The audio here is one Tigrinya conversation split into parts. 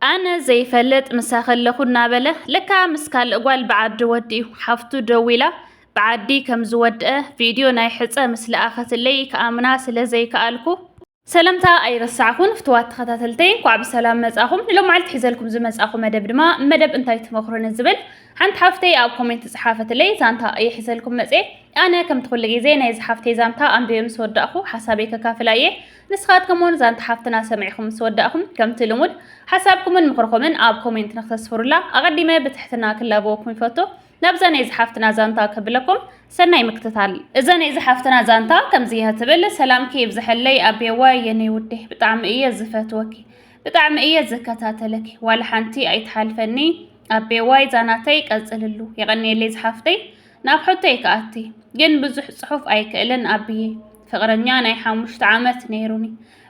ኣነ ዘይፈልጥ ምሳኺ ኣለኹ እናበለ ለካ ምስ ካልእ ጓል ብዓዲ ወዲኡ ሓፍቱ ደዊላ ብዓዲ ከም ዝወድአ ቪድዮ ናይ ሕፀ ምስ ለኣኸትለይ ክኣምና ስለ ዘይከኣልኩ ሰላምታ ኣይረሳዕኹን ፍትዋት ተኸታተልተይ እንኳዕ ብሰላም መጻኹም ንሎም መዓልቲ ሒዘልኩም ዝመጻኹ መደብ ድማ መደብ እንታይ ትመኽሩ ንዝብል ሓንቲ ሓፍተይ ኣብ ኮሜንት ዝሓፈትለይ ዛንታ እየ ሒዘልኩም መጽ ኣነ ከምቲ ኩሉ ግዜ ናይዚ ሓፍተይ ዛንታ ኣንቢበ ምስ ወዳእኹ ሓሳበይ ከካፍላ እየ ንስኻትኩም ውን ዛንታ ሓፍትና ሰሚዕኹም ምስ ወዳእኹም ከምቲ ልሙድ ሓሳብኩምን ምኽርኹምን ኣብ ኮሜንት ንክተስፍሩላ ኣቐዲመ ብትሕትና ክላበወኩም ይፈቱ። ናብዛ ናይ ዝሓፍትና ዛንታ ከብለኩም ሰናይ ምክትታል። እዛ ናይ ዝሓፍትና ዛንታ ከምዚ እያ ትብል። ሰላምኪ ይብዝሐለይ ኣቤዋይ የኔ ውዴ ብጣዕሚ እየ ዝፈትወኪ ብጣዕሚ እየ ዝከታተለኪ ዋላ ሓንቲ ኣይትሓልፈኒ ኣቤዋይ ዛናተይ ቀፅልሉ የቐንየለይ ዝሓፍተይ ናብ ሕቶይ ክኣቲ ግን ብዙሕ ጽሑፍ ኣይክእልን ኣብዬ ፍቕረኛ ናይ ሓሙሽተ ዓመት ነይሩኒ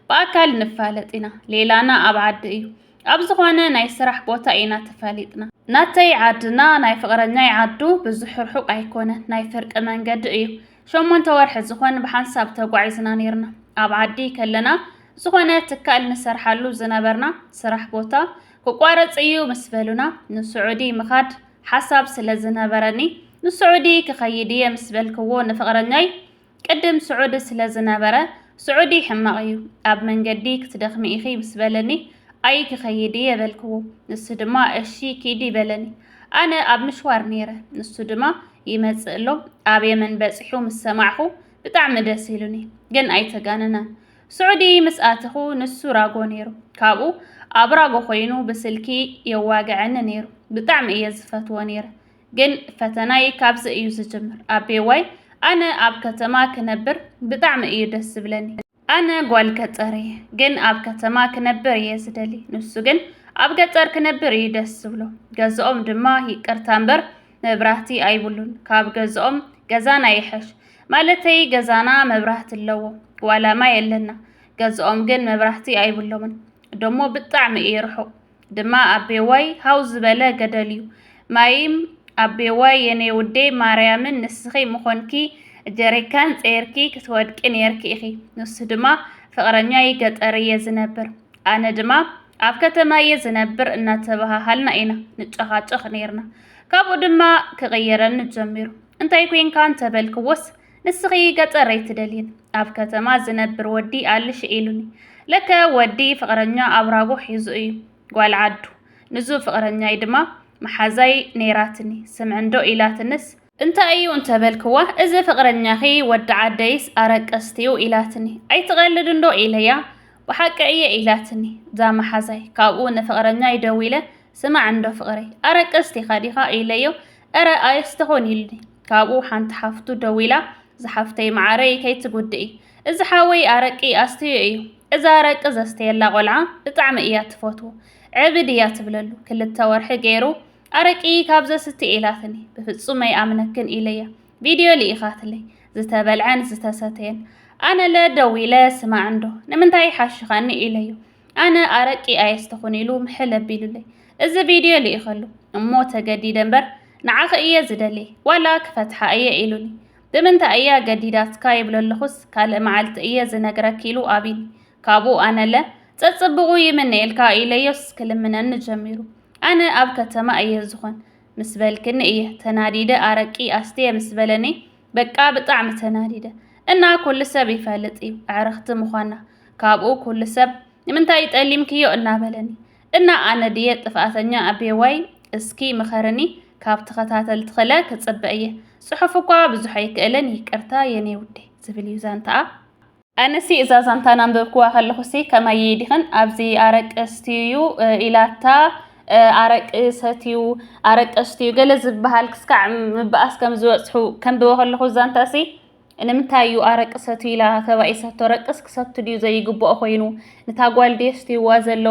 ብኣካል ንፋለጥ ኢና ሌላና ኣብ ዓዲ እዩ ኣብ ዝኾነ ናይ ስራሕ ቦታ ኢና ተፋሊጥና ናተይ ዓድና ናይ ፍቕረኛይ ዓዱ ብዙሕ ርሑቕ ኣይኮነን ናይ ፍርቂ መንገዲ እዩ ሸሞንተ ወርሒ ዝኾን ብሓንሳብ ተጓዒዝና ነይርና ኣብ ዓዲ ከለና ዝኾነ ትካል ንሰርሓሉ ዝነበርና ስራሕ ቦታ ክቋረጽ እዩ ምስ በሉና ንስዑዲ ምኻድ ሓሳብ ስለ ዝነበረኒ ንስዑዲ ክኸይድ እየ ምስ በልክዎ ንፍቕረኛይ ቅድም ስዑዲ ስለ ዝነበረ ስዑዲ ሕማቕ እዩ ኣብ መንገዲ ክትደኽሚ ኢኺ ምስ በለኒ ኣይ ክኸይድ እየ በልክዎ ንሱ ድማ እሺ ኪዲ በለኒ ኣነ ኣብ ምሽዋር ነይረ ንሱ ድማ ይመጽእ ኣሎ ኣብ የመን በጺሑ ምስ ሰማዕኹ ብጣዕሚ ደስ ኢሉኒ ግን ኣይተጋነናን ስዑዲ ምስ ኣተኹ ንሱ ራጎ ነይሩ ካብኡ ኣብ ራጎ ኮይኑ ብስልኪ የዋግዐኒ ነይሩ ብጣዕሚ እየ ዝፈትዎ ነይረ ግን ፈተናይ ካብዚ እዩ ዝጅምር ኣቤዋይ ኣነ ኣብ ከተማ ክነብር ብጣዕሚ እዩ ደስ ዝብለኒ ኣነ ጓል ገጠር እየ ግን ኣብ ከተማ ክነብር እየ ዝደሊ ንሱ ግን ኣብ ገጠር ክነብር እዩ ደስ ዝብሎ ገዝኦም ድማ ይቅርታ እምበር መብራህቲ ኣይብሉን ካብ ገዝኦም ገዛና ይሐሽ ማለተይ ገዛና መብራህቲ ኣለዎ ዋላ ማይ ኣለና ገዝኦም ግን መብራህቲ ኣይብሎምን ደሞ ብጣዕሚ እዩ ርሑቕ ድማ ኣቤዋይ ሃው ዝበለ ገደል እዩ ማይም ኣቤዋይ የኔ ውዴ ማርያምን ንስኺ ምኾንኪ ጀሪካን ፀይርኪ ክትወድቂ ነይርኪ ኢኺ ንሱ ድማ ፍቕረኛይ ገጠር እየ ዝነብር ኣነ ድማ ኣብ ከተማ እየ ዝነብር እናተበሃሃልና ኢና ንጨኻጨኽ ነይርና። ካብኡ ድማ ክቕየረኒ ጀሚሩ። እንታይ ኮንካ እንተበልክዎስ ንስኺ ገጠር ኣይትደልይን ኣብ ከተማ ዝነብር ወዲ ኣልሽ ኢሉኒ። ለከ ወዲ ፍቕረኛ ኣብራጎ ሒዙ እዩ ጓል ዓዱ። ንዙ ፍቕረኛይ ድማ መሓዛይ ነይራትኒ ስምዕንዶ ኢላትንስ እንታይ እዩ እንተ በልክዋ፣ እዚ ፍቕረኛኺ ወዲ ዓደይስ ኣረቀስቲ'ዩ ኢላትኒ። ኣይትቐልድ እንዶ ኢለያ፣ ብሓቂ እየ ኢላትኒ። እዛ መሓዛይ። ካብኡ ንፍቕረኛይ ደዊለ፣ ስማዕ እንዶ ፍቕረይ፣ ኣረቀስቲኻ ዲኻ ኢለዮ፣ እረ ኣየስ ትኹን ኢሉኒ። ካብኡ ሓንቲ ሓፍቱ ደዊላ፣ ዝሓፍተይ መዓረይ ከይትጉድኢ፣ እዚ ሓወይ ኣረቂ ኣስትዩ እዩ። እዛ ኣረቂ ዘስተየላ ቆልዓ ብጣዕሚ እያ ትፈትዎ። ዕብድ እያ ትብለሉ። ክልተ ወርሒ ገይሩ ኣረቂ ካብ ዘስቲ ኢላትኒ ብፍጹም ኣይኣምነክን ኢለያ ቪድዮ ልኢኻትለይ ዝተበልዐን ዝተሰተየን ኣነለ ደዊለ ስማዕ እንዶ ንምንታይ ይሓሽኻኒ ኢለዮ ኣነ ኣረቂ ኣየስተኹን ኢሉ ምሕል ኣቢሉለይ እዚ ቪድዮ ልኢኸሉ እሞ ተገዲደ እምበር ንዓኺ እየ ዝደልየ ዋላ ክፈትሓ እየ ኢሉኒ ብምንታይ እያ ገዲዳትካ ይብሎ ኣለኹስ ካልእ መዓልቲ እየ ዝነግረክ ኢሉ ኣቢኒ ካብኡ ኣነለ ጸጽብቑ ይምነየልካ ኢለዮስ ክልምነኒ ጀሚሩ ኣነ ኣብ ከተማ እየ ዝኮን ምስ በልክኒ እየ ተናዲደ ኣረቂ ኣስትየ ምስ በለኒ በቃ ብጣዕሚ ተናዲደ እና ኩሉ ሰብ ይፈልጥ እዩ ኣዕርክቲ ምኳና ካብኡ ኩሉ ሰብ ንምንታይ ጠሊምክዮ እና በለኒ እና ኣነ ድየ ጥፍኣተኛ ኣቤዋይ እስኪ ምኸርኒ ካብ ተኸታተልትክለ ክፅበ እየ ፅሑፍ እኳ ብዙሕ ኣይክእልን ይቅርታ የኔ ውዴ ዝብል እዩ ዛንትኣ። ኣነሲ እዛ ዛንታ ናንበብክዋ ከለኩሲ ከማይ ዲክን ኣብዚ ኣረቂ ስትዩ ኢላታ ኣረቂ ሰትዩ ኣረቂ ስትዩ ገለ ዝበሃል ክስካዕ ምበኣስ ከም ዝበጽሑ ከንብቦ ከለኩ ዛንታሲ ንምንታይ እዩ ኣረቂ ሰትዩ ኢላ ተባኢሰቶ ረቅስ ክሰቱ ድዩ ዘይግብኦ ኮይኑ ንታ ጓል ድየስትይዋ ዘሎ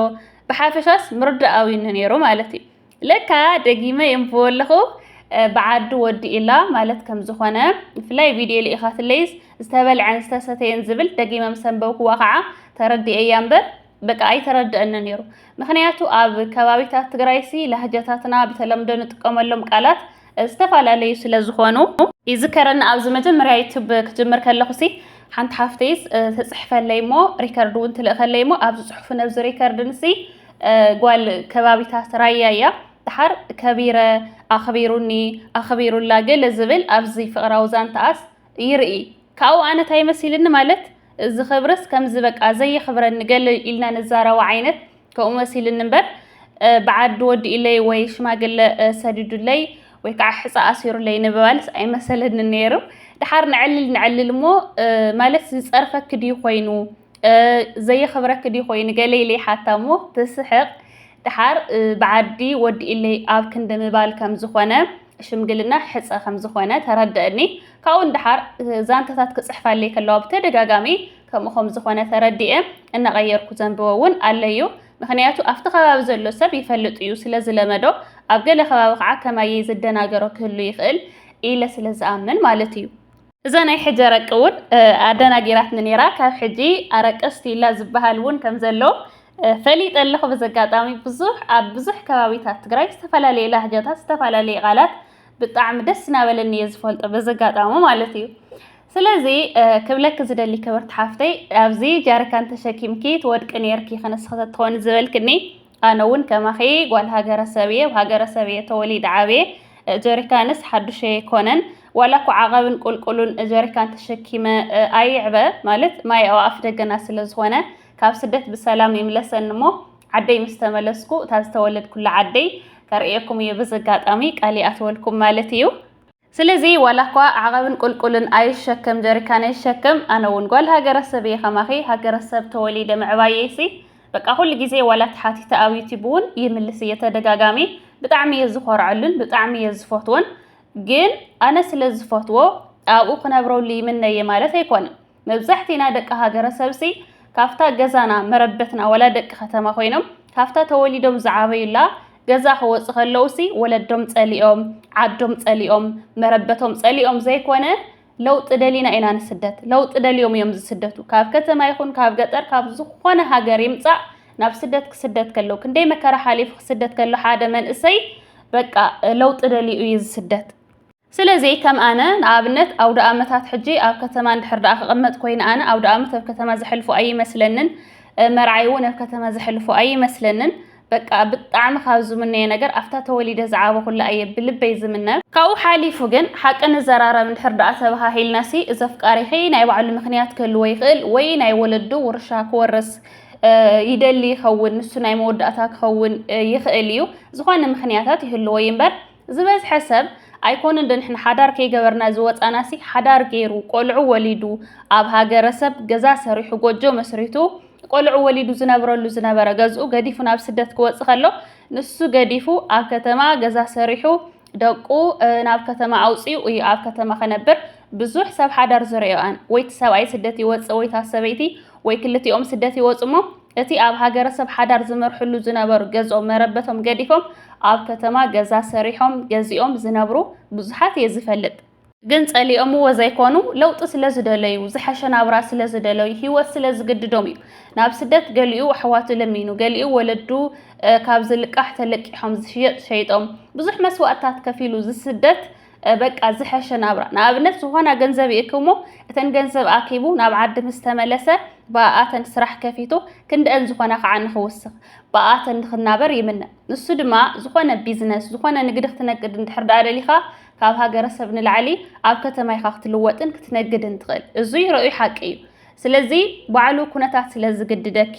ብሓፈሻስ ምርዳእ ኣውኒ ነይሩ ማለት እዩ ለካ ደጊመ የንብቦ ኣለኹ ብዓዱ ወዲኡላ ማለት ከም ዝኾነ ብፍላይ ቪድዮ ልኢኻትለይስ ዝተበልዐን ዝተሰተየን ዝብል ደጊመ ምስ ኣንበብክዋ ከዓ ተረዲኤያ እምበር በቃ ኣይተረድአኒ ነይሩ። ምክንያቱ ኣብ ከባቢታት ትግራይሲ ላህጃታትና ብተለምዶ ንጥቀመሎም ቃላት ዝተፈላለዩ ስለ ዝኾኑ ይዝከረኒ ኣብዚ መጀመርያ ዩቱብ ክጅምር ከለኹሲ ሓንቲ ሓፍተይስ ተፅሕፈለይ እሞ ሪከርድ እውን ትልእኸለይ እሞ ኣብዚ ፅሑፍ ነብዚ ሪከርድ ንሲ ጓል ከባቢታት ራያ እያ ድሓር ከቢረ ኣኽቢሩኒ ኣኽቢሩላ ገለ ዝብል ኣብዚ ፍቕራዊ ዛንተኣስ ይርኢ ካብኡ ኣነ ታይ መሲልኒ ማለት እዚ ክብርስ ከምዚ በቃ ዘየኽብረኒ ገለ ኢልና ንዛረባ ዓይነት ከምኡ መሲልኒ እምበር ብዓዲ ወዲኡለይ ወይ ሽማግለ ሰዲዱለይ ወይ ከዓ ሕፃ ኣሲሩለይ ንምባልስ ኣይመሰለንን ነይሩ ድሓር ንዕልል ንዕልል እሞ ማለት ዝፀርፈኪ ድዩ ኮይኑ ዘየኽብረኪ ድዩ ኮይኑ ገለ ኢለይ ሓታ እሞ ትስሕቕ ድሓር ብዓዲ ወዲኡለይ ኣብ ክንዲ ምባል ከም ዝኾነ ሽምግልና ሕጸ ከም ዝኾነ ተረደእኒ። ካብኡ ንደሓር ዛንታታት ክጽሕፋለይ ከለዋ ብተደጋጋሚ ከምኡ ከም ዝኾነ ተረዲኤ እናቐየርኩ ዘንብቦ እውን ኣለዩ። ምክንያቱ ኣብቲ ከባቢ ዘሎ ሰብ ይፈልጥ እዩ ስለ ዝለመዶ ኣብ ገለ ከባቢ ከዓ ከማየይ ዝደናገሮ ክህሉ ይኽእል ኢለ ስለ ዝኣምን ማለት እዩ። እዛ ናይ ሕጂ ኣረቂ ውን ኣደናጊራትኒ ኔራ ካብ ሕጂ ኣረቂ ስቲላ ዝብሃል ውን ከም ዘሎ ፈሊጠ ኣለኹ በዚ ኣጋጣሚ ብዙሕ ኣብ ብዙሕ ከባቢታት ትግራይ ዝተፈላለየ ላህጃታት ዝተፈላለየ ቃላት ብጣዕሚ ደስ እናበለኒ እየ ዝፈልጦ በዚ ኣጋጣሚ ማለት እዩ ስለዚ ክብለኪ ዝደሊ ክብርቲ ሓፍተይ ኣብዚ ጃርካን ተሸኪምኪ ትወድቂ ኔርኪ ክንስኺ ተትኾኒ ዝበልክኒ ኣነ ውን ከማኺ ጓል ሃገረሰብ እየ፣ ኣብ ሃገረሰብ እየ ተወሊደ ዓብየ፣ ጀሪካንስ ሓዱሸይ ኣይኮነን፣ ዋላ እኳ ዓቐብን ቁልቁሉን ጀሪካን ተሸኪመ ኣይዕበ፣ ማለት ማይ ኣብ ኣፍደገና ስለ ዝኾነ፣ ካብ ስደት ብሰላም ይምለሰኒ እሞ ዓደይ ምስ ተመለስኩ እታ ዝተወለድኩላ ዓደይ ከርእየኩም እየ፣ በዚ ኣጋጣሚ ቃል ይኣትወልኩም ማለት እዩ። ስለዚ ዋላኳ ዓቐብን ቁልቁልን ኣይሸከም ጀሪካን ኣይሸከም ኣነ ውን ጓል ሃገረሰብ እየ ከማኺ ሃገረሰብ ተወሊደ ምዕባየይሲ በቃ ኩሉ ግዜ ዋላ ተሓቲተ ኣብ ዩቲብ ውን ይምልስ እየ ተደጋጋሚ ብጣዕሚ እየ ዝኾርዐሉን ብጣዕሚ እየ ዝፈትዎን ግን ኣነ ስለ ዝፈትዎ ኣብኡ ክነብረሉ ይምነ እየ ማለት ኣይኮነን መብዛሕቲና ደቂ ሃገረሰብሲ ካብታ ገዛና መረበትና ወላ ደቂ ከተማ ኮይኖም ካብታ ተወሊዶም ዝዓበዩላ ገዛ ክወፁ ከለውሲ ወለዶም ጸሊኦም ዓዶም ጸሊኦም መረበቶም ጸሊኦም ዘይኮነ ለውጢ ደሊና ኢና ንስደት ለውጢ ደልዮም እዮም ዝስደቱ ካብ ከተማ ይኹን ካብ ገጠር ካብ ዝኾነ ሃገር ይምጻእ ናብ ስደት ክስደት ከለው ክንደይ መከራ ሓሊፉ ክስደት ከሎ ሓደ መንእሰይ በቃ ለውጢ ደልዩ እዩ ዝስደት ስለዚ ከም ኣነ ንኣብነት ኣውደኣመታት ሕጂ ኣብ ከተማ እንድሕር ደኣ ክቕመጥ ኮይነ ኣነ ኣውደኣመት ኣብ ከተማ ዘሕልፎ ኣይመስለንን፣ መርዓይ እውን ኣብ ከተማ ዘሕልፎ ኣይመስለንን። በቃ ብጣዕሚ ካብ ዝምነዮ ነገር ኣብታ ተወሊደ ዝዓበኹላ እየ ብልበይ ዝምነ። ካብኡ ሓሊፉ ግን ሓቂ ንዘራረብ እንድሕር ደኣ ተበሃሂልናሲ እዚ ኣፍቃሪኺ ናይ ባዕሉ ምኽንያት ክህልዎ ይኽእል ወይ ናይ ወለዱ ውርሻ ክወርስ ይደሊ ይኸውን፣ ንሱ ናይ መወዳእታ ክኸውን ይኽእል እዩ፣ ዝኾነ ምኽንያታት ይህልዎ እዩ እምበር ዝበዝሐ ሰብ ኣይኮንን ዶ ንሕና ሓዳር ከይገበርና ዝወጻናሲ ሓዳር ገይሩ ቆልዑ ወሊዱ ኣብ ሃገረሰብ ገዛ ሰሪሑ ጎጆ መስሪቱ ቆልዑ ወሊዱ ዝነብረሉ ዝነበረ ገዝኡ ገዲፉ ናብ ስደት ክወጽእ ከሎ ንሱ ገዲፉ ኣብ ከተማ ገዛ ሰሪሑ ደቁ ናብ ከተማ ኣውጽኡ እዩ ኣብ ከተማ ከነብር ብዙሕ ሰብ ሓዳር ዝርኦኣን ወይቲ ሰብኣይ ስደት ይወጽእ ወይታ ሰበይቲ ወይ ክልቲኦም ስደት ይወጽ እሞ እቲ ኣብ ሃገረሰብ ሓዳር ዝመርሕሉ ዝነበሩ ገዝኦም መረበቶም ገዲፎም ኣብ ከተማ ገዛ ሰሪሖም ገዚኦም ዝነብሩ ብዙሓት እየ ዝፈልጥ። ግን ጸሊኦምዎ ዘይኮኑ ለውጢ ስለ ዝደለዩ ዝሐሸ ናብራ ስለ ዝደለዩ ሂወት ስለ ዝግድዶም እዩ። ናብ ስደት ገሊኡ ኣሕዋቱ ለሚኑ ገሊኡ ወለዱ ካብ ዝልቃሕ ተለቂሖም ዝሽየጥ ሸይጦም ብዙሕ መስዋእትታት ከፊሉ ዝስደት በቃ ዝሐሸ ናብራ ንኣብነት ዝኾና ገንዘብ ይእክብሞ እተን ገንዘብ ኣኪቡ ናብ ዓዲ ምስ ተመለሰ ብኣኣተን ስራሕ ከፊቱ ክንደአን ዝኾና ከዓ ንክውስኽ ብኣኣተን ንክናበር ይምነ ንሱ ድማ ዝኾነ ቢዝነስ ዝኾነ ንግዲ ክትነግድ እንድሕር ደኣ ደሊኻ ካብ ሃገረሰብ ንላዕሊ ኣብ ከተማ ኢኻ ክትልወጥን ክትነግድን ትኽእል እዙይ ረኡይ ሓቂ እዩ ስለዚ ባዕሉ ኩነታት ስለ ዝግድደኪ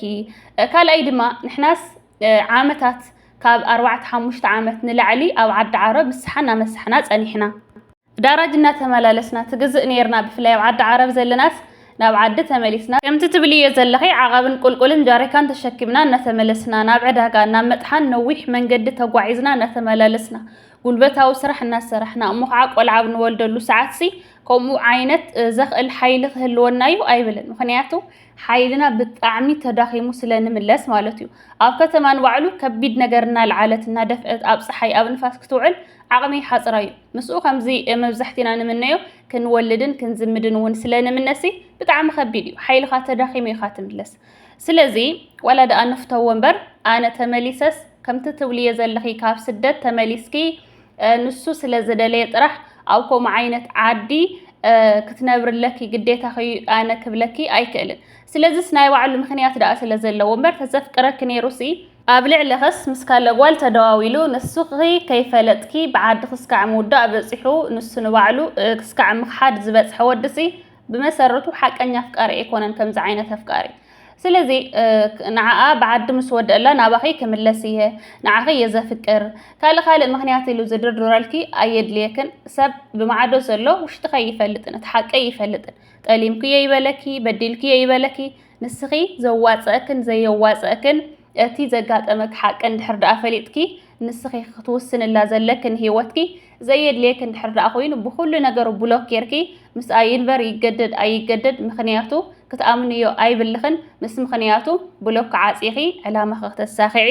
ካልኣይ ድማ ንሕናስ ዓመታት ካብ ኣርባዕተ ሓሙሽተ ዓመት ንላዕሊ ኣብ ዓዲ ዓረብ ምስሓ እናመሳሕና ፀኒሕና። ዳራጅ እናተመላለስና ትግዝእ ነይርና ብፍላይ ኣብ ዓዲ ዓረብ ዘለናስ ናብ ዓዲ ተመሊስና ከምቲ ትብልዮ ዘለኺ ዓቐብን ቁልቁልን ጃሪካን ተሸኪምና እናተመለስና ናብ ዕዳጋ ናብ መጥሓን ነዊሕ መንገዲ ተጓዒዝና እናተመላለስና ጉልበታዊ ስራሕ እናሰራሕና እሞ ከዓ ቆልዓ ኣብ ንወልደሉ ሰዓትሲ ከምኡ ዓይነት ዘኽእል ሓይሊ ክህልወና እዩ ኣይብልን ምኽንያቱ ሓይልና ብጣዕሚ ተዳኺሙ ስለ ንምለስ ማለት እዩ። ኣብ ከተማ ንባዕሉ ከቢድ ነገር እናልዓለት እናደፍእት ኣብ ፀሓይ ኣብ ንፋስ ክትውዕል ዓቕሚ ሓፅራ እዩ። ምስኡ ከምዚ መብዛሕቲና ንምነዮ ክንወልድን ክንዝምድን እውን ስለ ንምነሲ ብጣዕሚ ከቢድ እዩ። ሓይልኻ ተዳኺሙ ኢኻ ትምለስ። ስለዚ ዋላ ደኣ ንፍተዎ እምበር ኣነ ተመሊሰስ ከምቲ ትብልዮ ዘለኺ ካብ ስደት ተመሊስኪ ንሱ ስለ ዝደለየ ጥራሕ ኣብ ከምኡ ዓይነት ዓዲ ክትነብሪ ኣለኪ ግዴታኺ እዩ ኣነ ክብለኪ ኣይክእልን። ስለዚስ ናይ ባዕሉ ምኽንያት ደኣ ስለ ዘለዎ እምበር ተዘፍቅረኪ ነይሩሲ ኣብ ልዕሊኽስ ምስ ካልእ ጓል ተደዋዊሉ ንስኺ ከይፈለጥኪ ብዓድኽስ ካዕ ምውዳእ በጺሑ ንሱ ንባዕሉ ክስካዕ ምኽሓድ ዝበጽሐ ወዲሲ ብመሰረቱ ሓቀኛ ኣፍቃሪ ኣይኮነን ከምዚ ዓይነት ኣፍቃሪ ስለዚ ንዓኣ ብዓዲ ምስ ወደእላ ናባኺ ክምለስ እየ ንዓኺ እየ ዘፍቅር ካልእ ካልእ ምክንያት ኢሉ ዝድርድረልኪ ኣየድልየክን ሰብ ብማዕዶ ዘሎ ውሽጥኸ ይፈልጥን እቲ ሓቂ ይፈልጥን ጠሊምኩ እየ ይበለኪ በዲልኩ እየ ይበለኪ ንስኺ ዘዋፀእክን ዘየዋፀእክን እቲ ዘጋጠመክ ሓቂ እንድሕር ደኣ ፈሊጥኪ ንስኺ ክትውስንላ ዘለክን ህይወትኪ ዘየድልየክ እንድሕር ደኣ ኮይኑ ብኹሉ ነገሩ ብሎክ ጌርኪ ምስኣ ይንበር ይገደድ ኣይገደድ ምኽንያቱ ክትኣምንዮ ኣይብልኽን ምስ ምኽንያቱ ብሎክ ዓጺኺ ዕላማኺ ክተሳኺዒ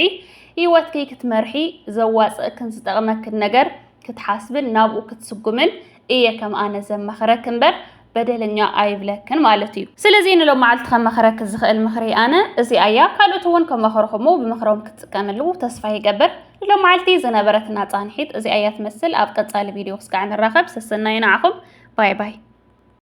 ህይወትኪ ክትመርሒ ዘዋጽእክን ዝጠቕመክን ነገር ክትሓስብን ናብኡ ክትስጉምን እየ ከም ኣነ ዘማኽረክ እምበር በደለኛ ኣይብለክን ማለት እዩ። ስለዚ ንሎም መዓልቲ ከማኽረክ ዝኽእል ምኽሪ ኣነ እዚኣ እያ። ካልኦት እውን ከማኽሩኹሞ ብምኽሮም ክትጥቀምሉ ተስፋ ይገብር። ንሎም መዓልቲ ዝነበረትና ፃንሒት እዚኣ እያ ትመስል። ኣብ ቀፃሊ ቪድዮ ክስካዕ ንራኸብ። ሰሰናዩ ንዓኹም። ባይ ባይ።